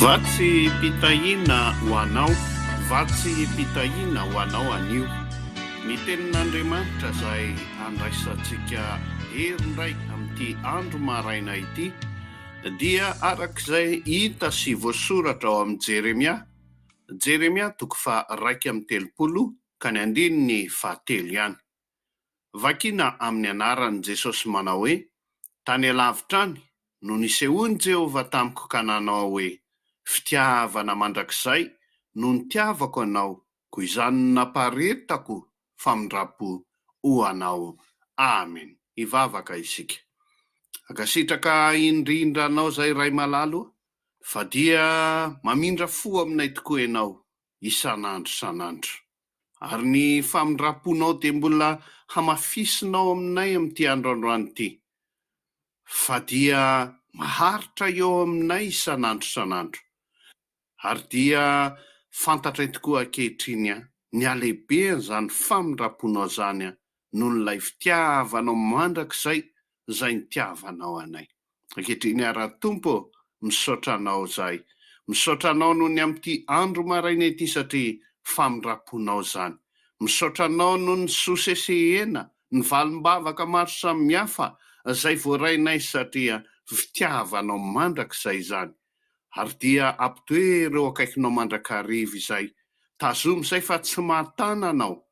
Vatsim-pitahiana ho anao, vatsim-pitahiana ho anao anio, ny Tenin'Andriamanitra izay handraisantsika hery indray amin'ity andro maraina ity, dia araka izay hita sy voasoratra ao amin'i Jeremia, Jeremia toko faha iraika amby telopolo ka ny andininy fahatelo ihany. Vakina amin'ny anaran'i Jesosy manao hoe, Tany alavitra any no nisehoan'i Jehovah tamiko ka nanao hoe, Fitiavana mandrakizay no nitiavako anao, koa izany no naparitako famindram-po ho anao. Amen. Hivavaka isika. Ankasitraka indrindra anao izay Ray malala o, fa dia mamindra fo aminay tokoa ianao isan'andro isan'andro. Ary ny famindram-ponao dia mbola hamafisinao aminay amin'ity andro androany ity, fa dia maharitra eo aminay isan'andro isan'andro. Ary dia fantatray tokoa ankehitriny ny halehibehan'izany famindram-ponao izany noho ilay fitiavanao mandrakizay izay nitiavanao anay. Ankehitriny ary Ra Tompo ô, misaotra Anao izahay. Misaotra Anao noho ny amin'ity andro maraina ity satria famindram-ponao izany. Misaotra Anao noho ny sosesehena, ny valim-bavaka maro samihafa izay voarainay satria fitiavanao mandrakizay izany. Ary dia ampitoero eo akaikinao mandrakariva izay. Tazomy izay fa tsy mahatana Anao.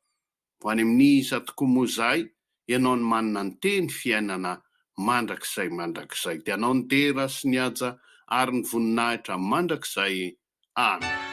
Ho any amin'ny iza tokoa moa izahay? Ianao no manana ny teny fiainana mandrakizay mandrakizay. Dia Anao ny dera sy ny haja ary ny voninahitra mandrakizay. Amen.